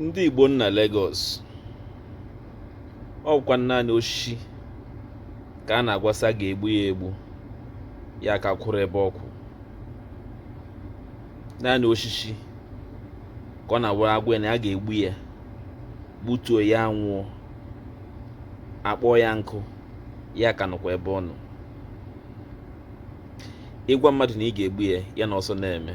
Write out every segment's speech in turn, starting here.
ndị Igbo nọ na Lagos ọ wụkwanụ naanị osisi ka a na-agwa sị a ga-egbu ya egbu ya ka kwụrụ ebe ọ kwụ naanị osisi ka ọ na-awụrụ a gwa ya na a ga-egbu ya gbutuo ya anwụọ akpọọ ya nkụ ya ka nọkwa ebe ọ nọ ị gwa mmadụ na ị ga-egbu ya ya na ọsọ na-eme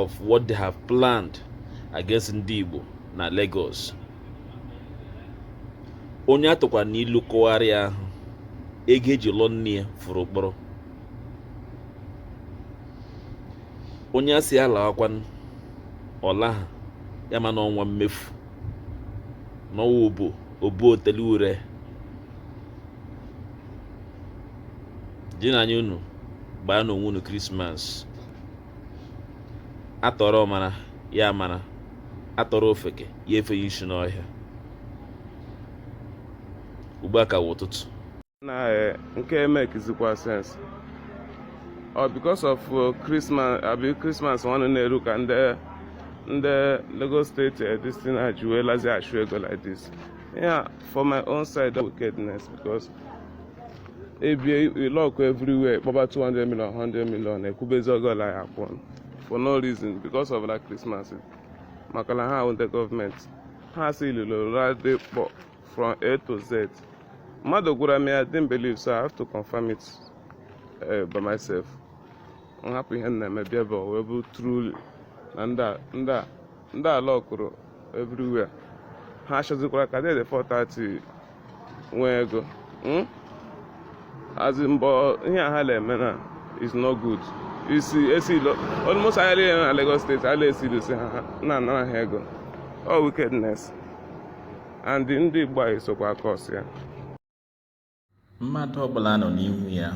of what they have planned against ndị Igbo na Lagos onye atụkwaranụ ilu kọgharịa ahụ ego eji lụọ nne ya furu ụkpọrọ onye asị ya lawakwanụ ọ laha ya ma na ọ nwa mmefu na ọ nwa obo obo otele ure jinụ anya unu gbaanụ onwe unu Christmas atụọrọ ọmara ya amara atụọrọ ofeke ya efenye isi n'ọhịa ugbu a ka wụ ụtụtụ na eh, nke a emekizikwa sense o because of Christmas eh, abi Christmas nwanne na-eru ka ndị ndị Lagos State eh, this thing ejiwelazi achụ ego like this yeah for my own side wickedness because a bịa lock everywhere kpọba 200 million 100 million ekwubezi ego ole a ya-akwụ for no reason because of that Christmas maka na ha wụ ndị government ha sealili Ladipo from A to Z mmadụ gwara m I didn't believe so I have to confirm it uh, by myself m hapụ ihe m na-eme bịa ebe a wee bụ truly na ndị a ndị a lockụrụ everywhere ha chọzikwara ka dede 430 nwee ego hmm? as in ihe a ha na-eme na is no good isi esealuo almost ahịa niile na Lagos State a na-esealusi ha na-anara ha ego all wickedness and ndị Igbo anyị sokwa a-cause ya mmadụ ọbụla anọ n'ihu ya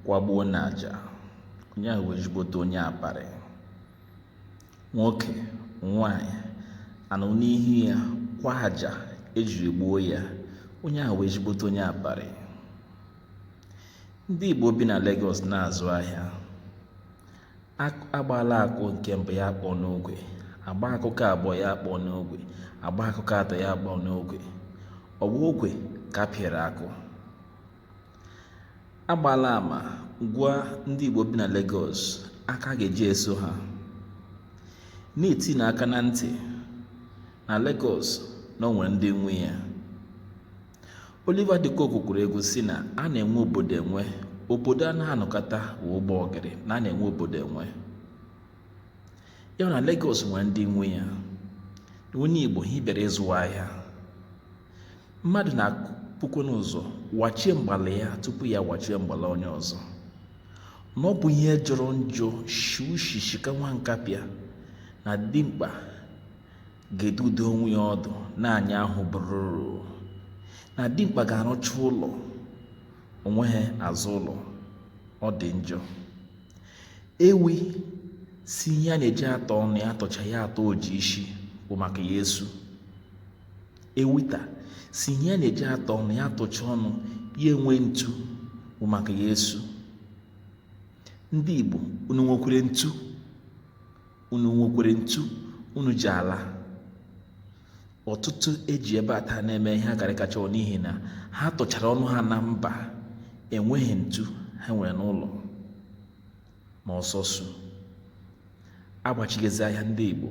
kwagbuo n'aja onye ahụ wụ ezigbote onye aparị nwoke nwanyị anọ n'ihu ya kwaa aja ejiri gbuo ya onye ahụ wụ ezigbote onye aparị ndị Igbo bi na Lagos na-azụ ahịa agbaala akụ nke mbụ ya akpọ n'ogwe agba akụ nke abụọ ya akpọ n'ogwe agba akụ nke atọ ya akpọ n'ogwe ọ bụ ogwe ka apịara akụ agbaala ama gwa ndị Igbo bi na Lagos aka a ga-eji eso ha na-eti unu aka na ntị na Lagos na o nwere ndị nwe ya Oliver De Coque kụrụ egwu si na a na-enwe obodo enwe obodo anaha anọkata wa ụgbọ ọgịrị na a na-enwe obodo enwe ya wụ na Lagos nwere ndị nwe ya onye Igbo ha bịara ịzụ ahịa mmadụ na-ebukwanụ ụzọ wachie mgbala ya tupu ya wachie mgbala onye ọzọ na ọ bụ ihe jọrọ njọ shi ushi shika nwa nkapịa na dimkpa ga-edudo onwe ya ọdụ na anya ahụ bụrụrụ na dimkpa ga-arụcha ụlọ o nweghị azụ ụlọ ọ dị njọ ewi sị ihe ya na-eji atọ ọnụ ya atọcha ya atọ oji isi bụ maka ya esu ewi ta sị ihe ya na-eji atọ ọnụ ya atọcha ọnụ ya enwe ntu bụ maka ya esu ndị Igbo unu nwekwere ntu unu nwekwere ntu unu ji ala ọtụtụ eji ebe a taa na-eme ihe akarịkacha n'ihi na ha tọchara ọnụ ha na mba enweghị ntu ha nwere n'ụlọ ma ọsọ su agbachighezi ahịa ndị Igbo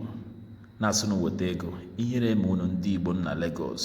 na-asị unu weta ego ihere eme unu ndị Igbo nọ na Lagos